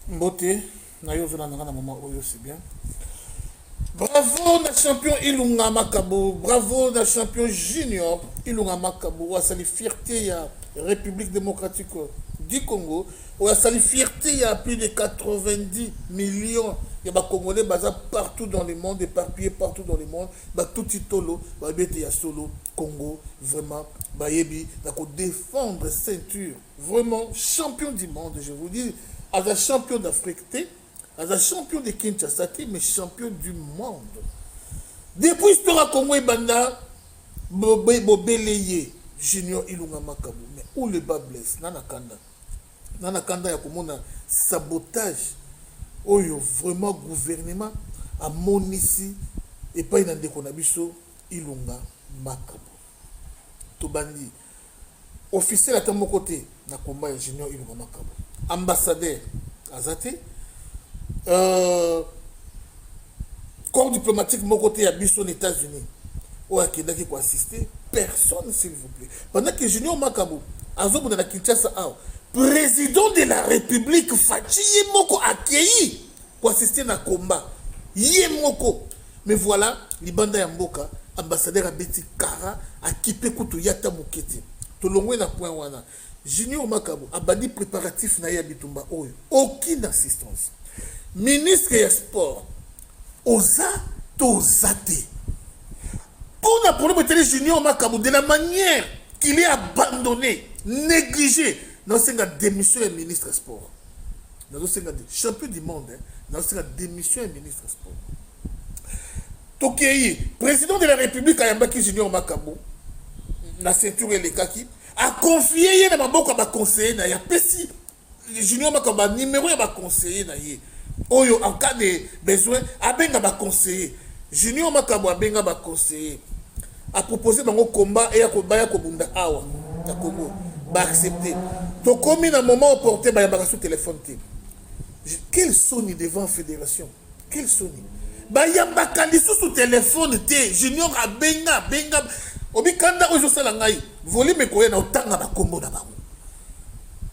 Mbote, na yo ozolanda nga na mama oyo, c'est bien. Bravo na champion Ilunga Makabu, bravo na champion junior Ilunga Makabu, asali fierté ya République démocratique du Congo, oyo asali fierté ya plus de 90 millions ya ba Congolais baza partout dans le monde, éparpillés partout dans le monde, ba tuti tolo, ba bete ya solo, Congo, vraiment, bayebi, na ko défendre ceinture Vraiment champion du monde je vous dis aza champion d'Afrique te aza champion de Kinshasa te mais champion du monde depuis histoire ya Congo ebanda bobele ye junior ilunga makabu mais où le bas blesse nana kanda nana kanda ya komona sabotage oyo vraiment gouvernement amonisi epai na ndeko na biso ilunga makabu tobandi Officiel ata moko te na combat ya Junior Ilunga Makabu. Ambassadeur aza te. Euh, corps diplomatique moko te ya biso na États-Unis oyo akendaki ko assister personne s'il vous plaît. Pendant que Junior Makabu azobunda na Kinshasa awa, président de la République Fatshi ye moko akeyi ko assister na combat ye moko mais voilà libanda ya mboka ambassadeur abeti kara akipe kutu ye ata moke te tolongwe na point wana junior makabo abandi préparatif na ye ya bitumba oyo aucune assistance ministre ya sport oza to oza te mpo na problème etali junior makabo de la manière qu'il est abandonné négligé naosenga démission ya ministre ya sport nazosenga champion du monde hein. nazosenga démission ya ministre sport tokei président de la république ayambaki junior makambo na ceinture elekaki akonfie ye na maboko ya baconseiller na ye apesi junior makambo banimero ya baconseiller na ye oyo en cas de besoin abenga baconseiller junior makambo abenga baconseiller A proposer bango combat eya ko baya ko bunda awa na Congo ba accepter. Tokomi na moment opportun ba yambaka sous telephone te. Quel soni devant federation. Quel soni. Ba yambaka lisusu telephone te. Junior abenga benga obikanda oyo ezosala ngai volume ekoya na otanga na kombo na bango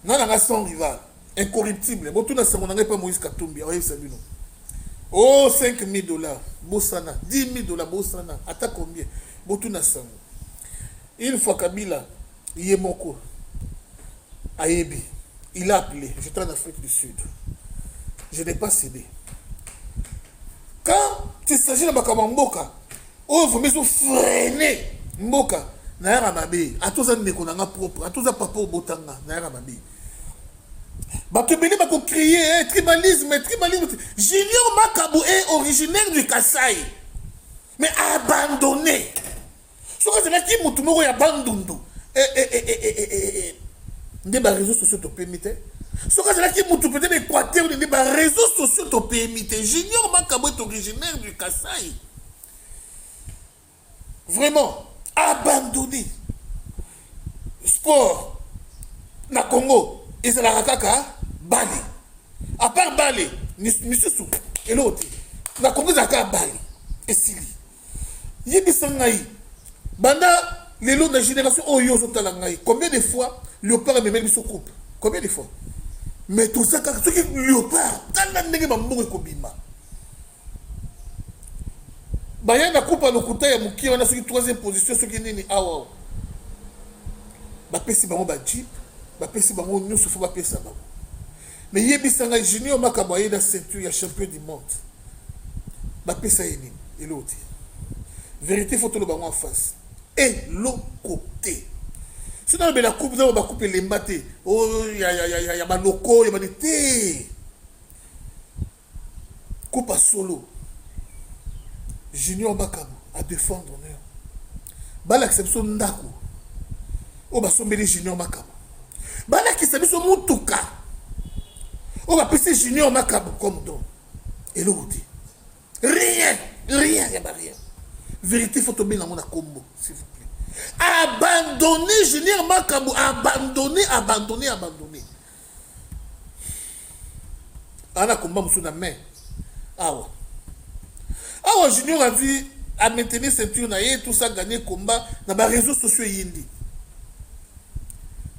nga na nga sans rival Incorruptible. Botuna sango na ngai pa Moïse Katumbi, akoyebisa bino. Oh 5000 dollars, bosana, 10000 dollars bosana, ata combien. Botuna sango. Une fois Kabila ye moko ayebi, il a appelé, j'étais en Afrique du Sud. Je n'ai pas cédé. Quand il s'agit de makambo mboka, oyo vraimen ezo frene mboka nayaka mabe ata oza ndeko na nga propre ata oza papa obota nga nayaka mabe bato ebele bakocrie eh, tribalisme tribalisme junior makabu est originaire du kasai mais abandonné soki azalaki motu moko ya bandundu eh, eh, nde bareseau sociaux topemi te soki azalaki motu peut-être équateur nde bareseau sociaux topemi te junior makabu est originaire du kasai vraiment abandonne sport na congo ezalaka kaka bale apart bale misusu eloko te na congo ezalaka kaka bale esili yebisa ngai banda lelo na génération oyo ozotala ngai combien de fois leopard amemeli biso coupe combien de fois mais toza kaka soki leopard tala ndenge bambongo ekobima baya na kupa lokuta ya mokie wana soki troisième position soki nini awa bapesi bango bajeep bapesi bango nyonso fo bapesa bango me yebisa ngai junior makambo aye na ceinture ya champion du monde bapesa ye nini eloko te vérité fo toloba yango en face eloko te soki nalobela coupe nao bakupe elemba te oh, ya baloko ya bani te Kopa solo junior bakabo a defendre honneur balakisa biso ndako oyo basombeli junior makabo balakisa biso motuka oyo bapesi junior makabo comme don eloko te rien rien ya barien vérité fo tobenga yango na kombo s'il vous plaît abandonne junior makabo abandonne abandonne abandonne ana combat mosusu na main awa awa junior azwi a maintenir ceinture na ye tout ça gagner combat na ba réseaux sociaux eyindi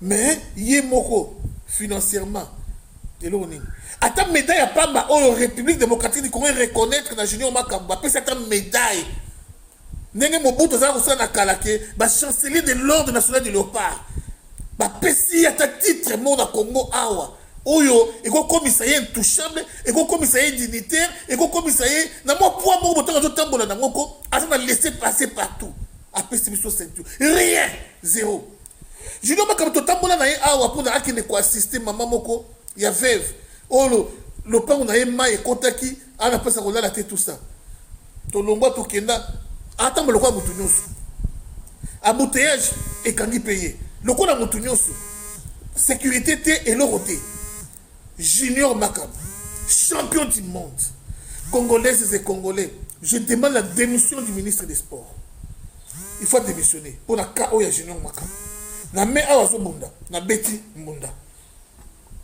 mais ye moko financièrement eloko nini ata médaille ya pamba oyo république démocratique du congo reconnaître na junior makambo apesi ata médaille Ndenge Mobutu azalaki kosala na kala ke ba chancelier de l'ordre national du Leopard bapesi ye ata titre moko na Congo awa oyo ekokomisa ye intouchable ekokomisa ye dignitaire ekokomisa ye na mwa poids moko botango azotambola na moko aza na laisser passer partout apesi biso ceinture rien zero junior makambo totambola na ye awa mpona akende koassiste mama moko ya veve oyo lopango na ye mai ekotaki ana mpesa kolala te tout ça tolongwa tokenda atambo lokola motu nyonso embouteillage ekangi mpe ye lokola motu nyonso sécurité te eloko te junior makam champion du monde congolaises et congolais je demande la démission du ministre des sports il faut démissionner mpo na cas oyo ya junior makam na mai awa azobunda na beti mbunda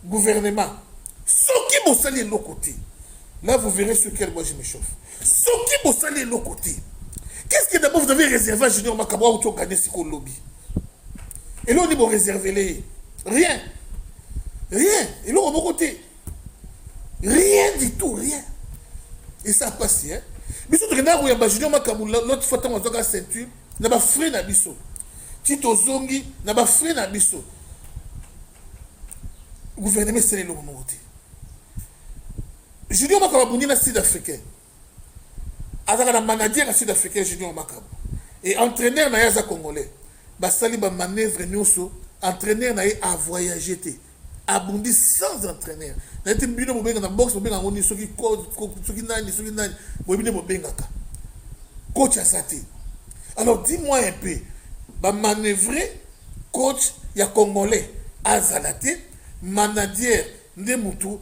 gouvernement soki bosali eloko te là vous verrez sur quel moi je me chauffe soki bosali eloko te qu'est-ce que d'abord vous avez réservé à junior makambo auti ogane siko lobi eloko nini boreservele ye rien rien eloko moko te rien du tout rien esa pasi hein biso tokendaka koyamba junior makambo l'autre fois ntango azwaka ceinture na ba frais na biso ti tozongi na ba frais na biso gouvernement esala eloko moko te junior makabo abundi na sud africain azalaka na manager ya sud africain junior makabo e entraîneur na ye aza congolais basali bamanœuvre nyonso entraîneur na ye avoyage te abundi sans entraîneur nayete bino bobenga na box bobenga yango nini soki soki nani soki nani boyebi nde bobengaka coach aza te alors dis moi un peu bamanoeuvre coach ya congolais azala te manager nde motu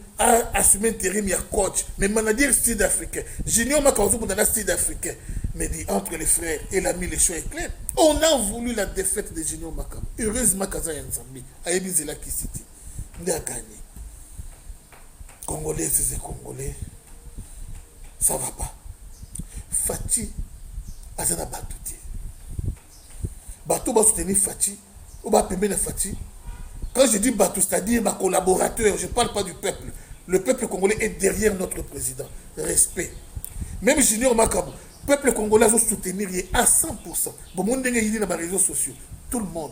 assume interim ya coach mais manager sud africain junior maka ozobunda na sud africain mais dit entre les frères et l'ami le choix est clair on a voulu la défaite de junior makama heureusement kaza ya nzambe ayebi nzela kisi te nde aganye congolais sese congolais ça va pas faci aza na bato te bato basoutenir faci oyo bapembeni ya faci quand je dis bato c'est-à-dire bacollaborateur je parle pas du peuple le peuple congolais est derrière notre président respect même junior makabu Peuple congolais azo soutenir ye à 100%. Bon mon ndenge yini na ba réseaux sociaux. Tout le monde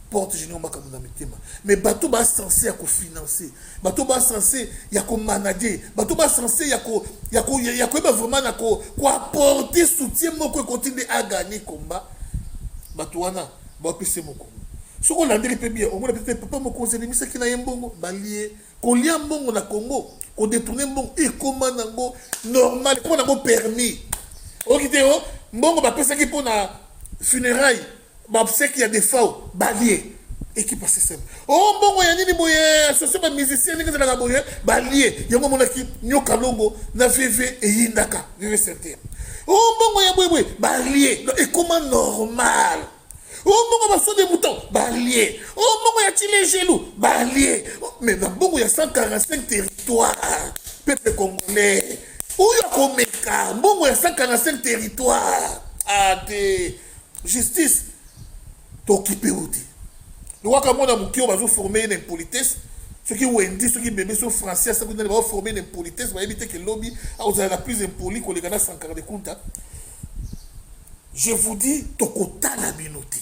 porte junior makambo na mitema. Mais bato ba censé ya ko financer, bato ba censé ya ko manager, bato ba censé ya ko ya ko ya ko ba vraiment na ko ko apporter soutien moko ekoti nde a gagner combat. Bato wana ba pese moko. Soko landeli pe bien, omona pe papa moko ozebimisaki na ye mbongo balie Kolia mbongo na Congo, ko detourner mbongo ekoma nango normal, ekoma nango permis. Oki te oh, mbongo bapesaki mpo na funérailles, ba obsèques ya defao balie ekipa système oh mbongo ya nini boye association ba musicien ndenge ezalaka boye balie yango omonaki nyoka longo na veve eyindaka veve certain oh mbongo ya boye boye balie ekoma normal o mbongo ba faux debutant balie o mbongo ya chilejelu balie mais na mbongo ya 145 territoire peuple congolais oyo akomeka mbongo ya 145 territoire ate justice tokipe o te lokwaka mwana moke oyo bazoforme ye na impolitesse soki wendi soki bebe so français soki nani baoforme na impolitesse bayebi te ke lobi akozala na plus impoli koleka na sankara de kunta je vous dis tokotala bino te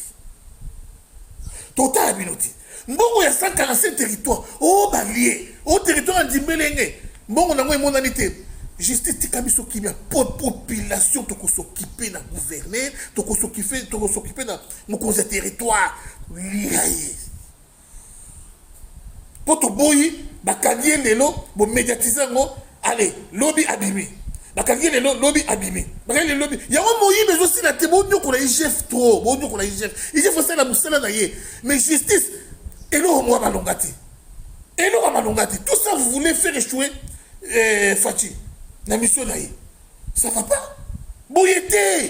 totala bino te mbongo ya 145 territoire o oh, balie o oh, territoire ya ndimbelenge mbongo nango emonani te justice tika biso kimia po population tokosokipe na gouverneur tokosokipe na mokonzi ya territoire lia ye po toboyi bakangi ye lelo bo mediatise yango ale lobi abimi bakangi ye lelo lobi abimi bakangi lelo lobi yango moyibi ezosila te bonyokola igf tro bonyokola igf igf osala mosala na ye mais justice eloko mwa malonga te eloko malonga te tout ça vous voulez faire échouer eh, faci na mission na ye ça va pas boye te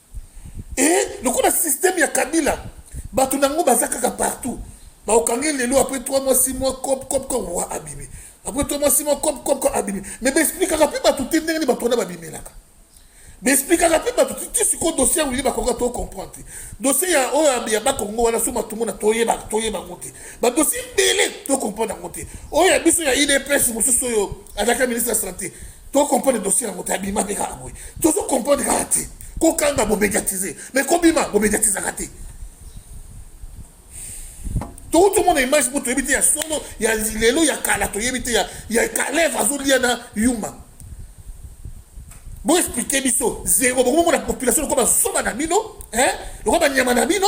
et lokola système ya kabila bato na yango baza kaka partout bakokangi lelo après 3 mois 6 mois cop cop cop wa abimi après 3 mois 6 mois cop cop cop abimi mais baexplikaka mpe bato te ndenge nini bato wana babimelaka baexplikaka mpe bato te ti sikoyo dossier yango oyebi bakoka to comprendre te dossier ya oyo ya bakongo wana so matungu na toyeba toyeba yango te bakosi ebele to comprendre yango te oyo ya biso ya idps mosusu oyo azalaka ministre ya santé to comprendre dossier yango te abima mpe kaka boye tozo comprendre kaka te kokanga bomédiatise mais kobima bomédiatisaka te touti omona image mpo toyebi te ya solo ya lelo ya kala toyebi te ya kaleve azolia na yuma boexplike biso zero bokomomona population lokola bazoba na bino lokola banyama na bino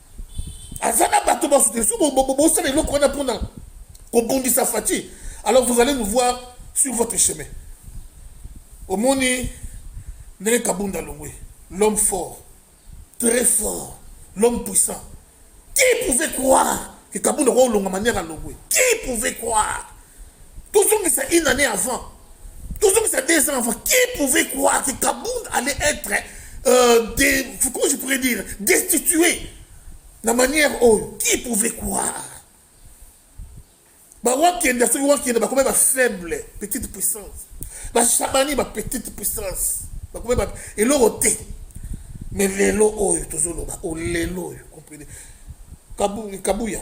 aza na bato basuteni so bosala eloko wana mpona kobundisa fati alors vous allez nous voir sur votre chemin omoni ndenge kabunda longwe l'homme fort très fort l'homme puissant qui pouvait croire que kabunda kwa olonga manière alongwe qui pouvait croire tozongisa une année avant tozongisa deux ans avant qui pouvait croire que kabund allait être euh, des, comment je pourrais dire destitué na manière oyo qui pouvait croire bawakenda soki wakenda bakoma ba faible petite puissance bashabani ba petite puissance bakoma ba eloko te mais lelo oyo tozoloba o lelo oyo comprene kabuya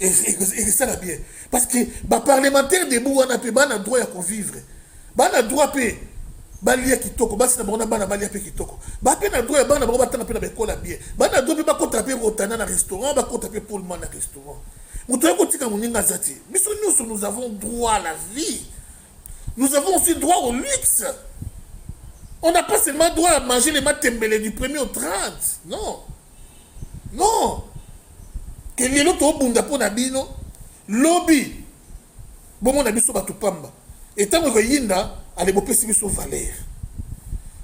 ekosala bien parce que baparlementaire debout wana mpe bana droit ya kovivre bana droit mpe balia kitoko basi na bango na bana balia mpe kitoko bape na droit ya bana bango batanga mpe na baekola bien bana droit mpe bakota mpe rotana na restaurant bakota mpe polma na restaurant moto ya kotika moninga aza te biso nyonso nous avons droit à la vie nous avons aussi droit au luxe on n'a pas seulement droit à manger les matembele du premier au 30 non non ke lelo tobunda mpo na bino lobi bomona biso bato pamba etango ekoyinda ale bopesi biso valeur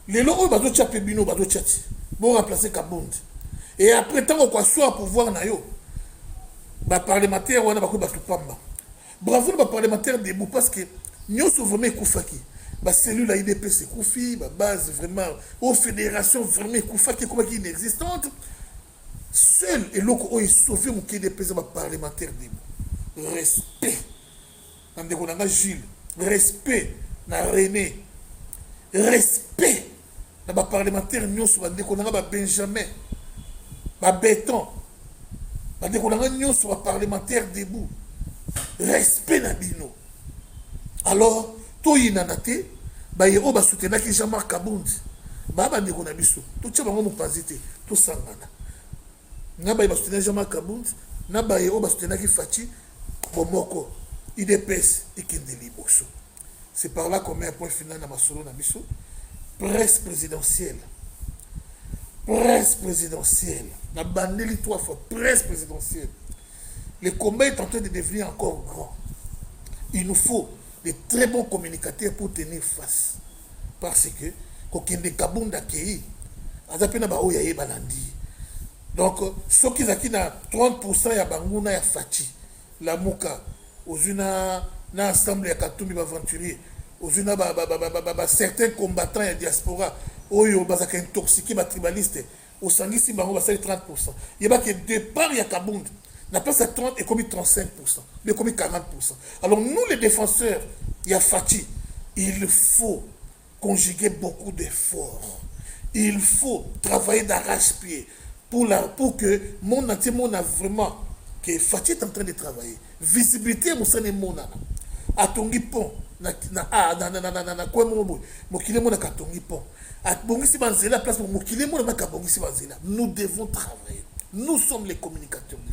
lelo oyo bazotya mpe bino bazotya ti boremplace kabundi e après ntango kwaswa pouvoir na yo baparlementaire wana bakoki bato pamba Bravo na ba parlementaires debout parce que nyoso vraiment ekufaki. Ba cellules ya IDPS ekufi, ba bases vraiment, au fédération vraiment ekufaki, ekomaki inexistante. Seul eloko oyo esauve moke IDPS ya ba parlementaires debout. Respect na ndeko na nga Jules, respect na René, respect na ba parlementaire nyonso bandeko na nga ba benjamin ba beton bandeko na nga nyonso ba parlementaire debout respect na bino alors toyinana te baye oyo basutenaki jean marc kabundi baa bandeko na biso totya bango mopanzi te tosangana na baye basutenaki jean marc kabundi na baye oyo basutenaki faci bomoko idps ekende liboso C'est par là qu'on met un point final na masolo na biso. Presse présidentielle. Presse présidentielle. Na bandeli trois fois. Presse présidentielle. Le combat est en train de devenir encore grand. Il nous faut de très bons communicateurs pour tenir face. Parce que, kokende kabunda kei, aza pe na ba oyo ayeba na ndi. Donc, soki ezalaki na 30% ya banguna ya Fatshi, Lamuka ozui na na ensemble ya katumbi ba aventurier ozui na ba, ba, ba, ba, ba, ba certains combattants ya diaspora oyo bazaka intoxique ba tribaliste osangisi bango basali 30 yeba ke départ ya kabund na place ya 30 ekomi 35 ekomi 40 alors nous les défenseurs ya faci il faut conjuguer beaucoup d'efforts il faut travailler d'arrache pied pour la pour que monde entier mona vraiment que Fatshi est en train de travailler visibilité mosala emonana atongi pont na na ah, na na na na na kwe moko boye mokili mona katongi pont abongisi banzela place mokili mona maka abongisi banzela nous devons travailler nous sommes les communicateurs de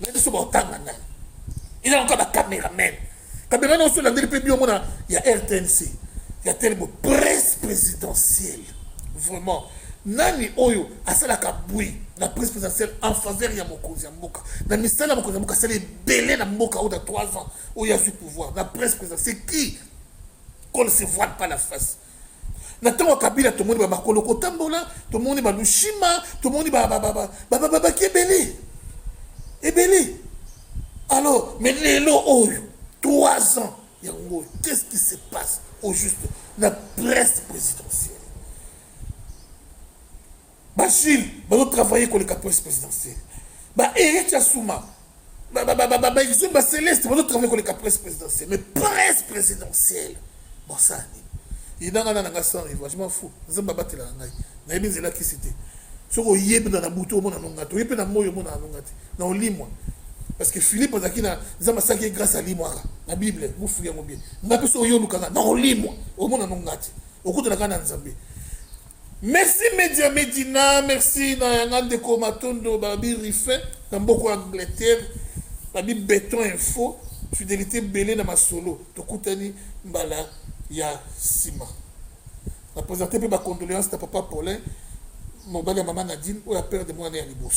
na biso baotanga nani eza lokola bacameraman cameraman oso olandeli mpe bio mona ya rtnc ya telebo presse présidentielle vraiment nani oyo asalaka bwi na presse présidentielle en faveur ya mokonzi ya mboka na misala ya mokonzi ya mboka asali ebele na mboka oyo na 3 ans oyo azwi pouvoir na presse présidentielle qui qu'on ne se voile pas la face na ntango ya kabila tomoni bamakolo kotambola tomoni balushima tomoni bababaki ebele ebele alors mais lelo oyo trois ans yango oyo qu'est ce qui se passe au juste na presse présidentielle Ba Jules bazo travailler koleka presse presidentielle. Ba Eric Assouma, ba ba ba ba ba Exum, ba Celeste bazo travailler koleka presse presidentielle. Mais presse présidentielle. Bon ça ni. Inanga na nanga sans rivage, je m'en fous. Nzamba batela na ngai. Na yebi nzela kisi te. Soko yebi na butu omona nonga te. Yebi na moyo omona nonga te. Na olimwa. Parce que Philippe azaki na nzamba saki grâce à limwa na Bible, mufu yango bien. Ngapi so yo lukanga na olimwa. Omona nonga te. Okuta na kana nzambe. Merci media medina merci na yanga ndeko matondo babi rife na mboko ya angleterre babi beton info fidelité bele na masolo tokutani mbala ya nsima na presente mpe bacondoléance na papa paulin mobali ya mama nadine oyo aperde mwana ya liboso